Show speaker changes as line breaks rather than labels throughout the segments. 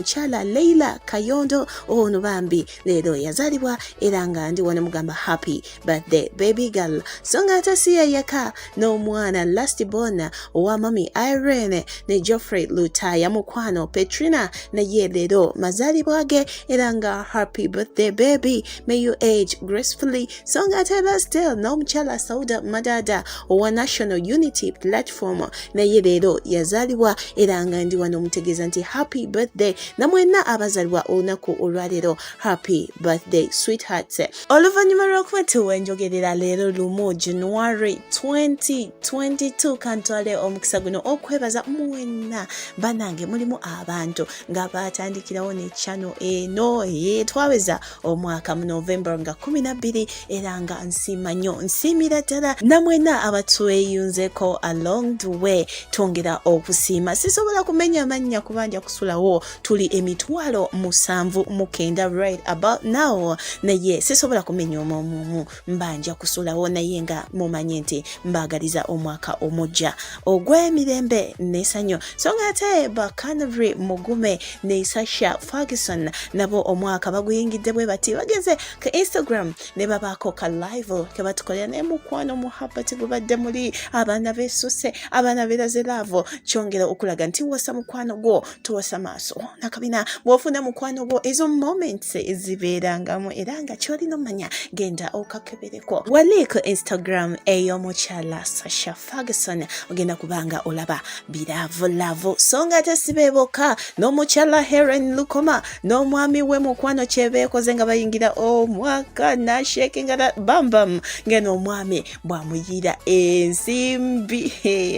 mukyala Leila Kayondo ono bambi leero yazalibwa era nga ndi wano mugamba happy birthday baby girl so nga ate si yeyeka n'omwana last born owa mami Irene ne Geoffrey Lutaya mukwano Petrina naye leero mazalibwa ge era nga happy birthday baby may you age gracefully so ng'atera still n'omukyala sauda madada owa national unity platform naye leero yazaalibwa era nga ndi wano omutegeeza nti happy birthday namwenna abazalibwa olunaku olwaleero happy birthday sweetheart oluvannyuma lw'okuba tuwenjogerera leero lumu january 2022 kantwale omukisa guno okwebaza mwenna banange mulimu abantu nga baatandikirawo ne channel eno ye twaweza omwaka mu november nga kumi na bbiri era nga nsiima nnyo nsiimira ddala namwena abatweyunzeko along the way twongera okusiima sisobola kumenya amannya kubanja kusulawo tuli emitwalo musanvu mukenda right about now naye sisobola kumenya omwomuomu mba nja kusulawo naye nga mumanye nti mbaagaliza omwaka omujja ogw'emirembe n'esanyo so nga ate bacanary mugume ne sasha ferguson nabo omwaka baguyingidde bwe bati bagenze ku instagram ne babaako ka live ke batukolera naye mukwano muhabbati gubadde muli abaana besusse abaana beraze laavu kyongera okulaga nti wasa mukwano gwo tuwasa maaso nakabina bwofuna mukwano gwo ezo moments ezibeerangamu era nga kyolina omanya genda okakebereko waliiko instagram eyomukyala sasha ferguson ogenda kubanga olaba biravulavu so nga tesibeeboka n'omukyala heren lukoma n'omwami we mukwano kyebeekoze nga bayingira omwaka nashekinga bambam ngeno omwami bwamuyiira ensimbi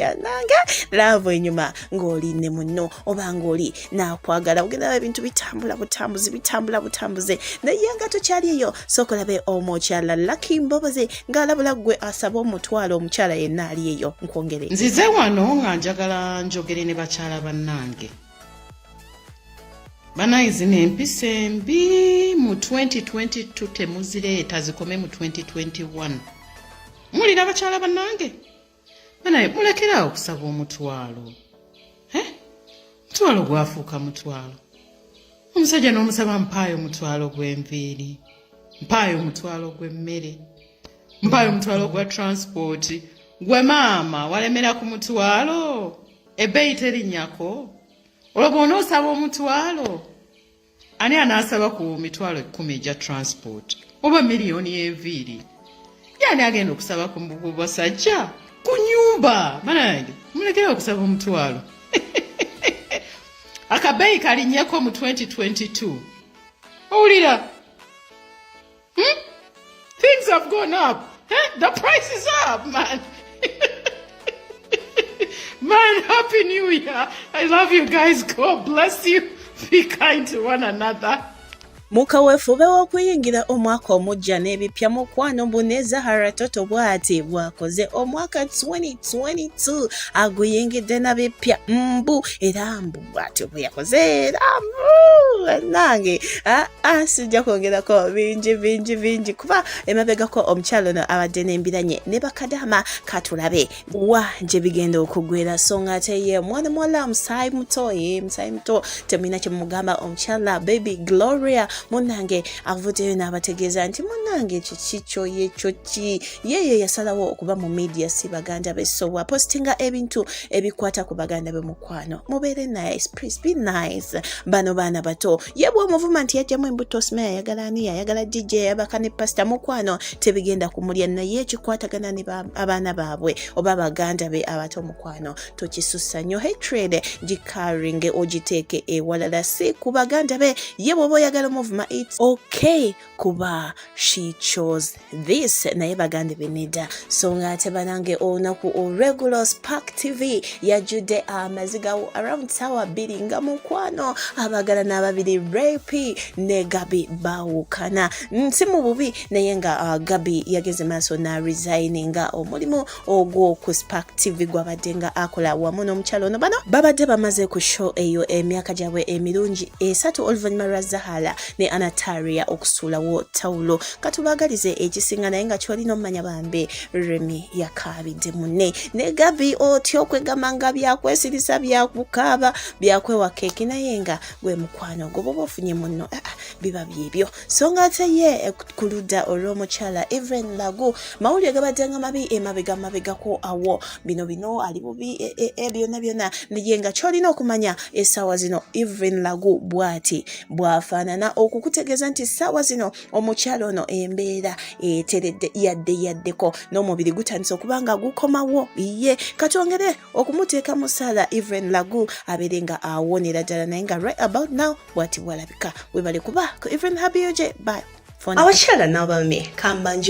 ananga laavu enyuma ng'oli ne munno oba ng'oli naakwagala ogendaba ebintu bitambula butambuzi bitambula butambuze naye nga tokyali eyo sookolabe omukyala laki mbobozi ng'alabula ggwe asaba omutwalo omukyala yenna ali eyo nkwongere nzize wano nga
njagala njogere ne bakyala bannange banaye zino empisa embi mu 2022 temuzireeta zikome mu 2021 mulira abakyala banange banaye mulekerawo okusaba omutwalo mutwalo gwafuuka mutwalo omusajja n'omusaba mpaayo omutwalo gw'enviiri mpaayo omutwalo gw'emmere mpaayo omutwalo gwa transport gwe maama walemera ku mutwalo ebbeeyi terinnyako olwo bwona osaba omutwalo ani anaasaba ku mitwalo ekkumi egya transport oba miliyoni enviiri yani agenda okusaba ku basajja ku nyumba banange mulekere okusaba omutwalo akabeeyi kalinyeko mu 2022 owulira Hmm? Things have gone up. Eh? The price is up, man. man, happy new year. I love you guys. God bless you. Be kind to one another. mu kaweefube
w'okuyingira omwaka omujja n'ebipya mukwano mbu ne zahara toto bw'ati bw'akoze omwaka 2022 aguyingidde na bipya mbu era mbu bwatyo bwe yakoze era nange sijja kwongerako bingi bingi bingi kuba emabegako omukyalo ono abadde n'embiranye ne bakadama katulabe wa gye bigenda okugwera so nga ate ye mwana muwala musaayi muto ye musaayi muto temulina kye mugamba omukyala baby gloria munange avuddeyo n'abategeeza nti munange kiki kyoye kyo ki yeeyo yasalawo okuba mu media si baganda be so wapositinga ebintu ebikwata ku baganda be mukwano mubeere nice please be nice bano baana bato ye bwomuvuma nti yajjamu embuto osima yayagala ani yayagala jijja yayabaka ne pasita mukwano tebigenda kumulya naye ekikwatagana ne abaana baabwe oba baganda be abato mukwano tokisussa nyo hatred gikaringe ogiteeke ewalala si ku baganda be ye bwoba oyagala omuvuma its okay kuba she chose this naye bagande beneda so nga ate banange olunaku olwegulo spark tv yajjudde amazigawo ah, around sawa bbiri nga mukwano abagala n'ababiri rapi ne gabi bawukana nsi mu bubi naye nga uh, gabi yageze maaso na resign nga omulimu ogwo ku spark tv gwabadde nga akola wamu n'omukyalo ono bano babadde bamaze ku show eyo emyaka gyabwe emirungi esatu oluvannyuma lwa zahala ne anataria okusuulawo tawulo katubagalize ekisinga naye nga kyolina omumanya bambi remi yakaabidde munne ne gabi otya okwegamba nga byakwesirisa byakukaaba byakwewaka eki naye nga gwe mukwano gwoba oba ofunye munno ah, ah, biba byebyo so nga ate ye eh, ku ludda olw'omukyala even lagu mawulire gabaddanga mabi emabega mabegako awo bino bino ali bubi eh, eh, e byonna byonna naye nga kyolina okumanya essaawa zino even lagu bwati bwafaanana okukutegeeza nti essaawa zino omukyala ono embeera eteredde yadde yaddeko n'omubiri gutandise okuba nga gukomawo ye katwongere okumuteeka musaala even lagu abeere nga awonera ddala naye nga right about now bwati bwalabika webale kuba ku Evelyn Habioje bye abakyala n'abami kambanjo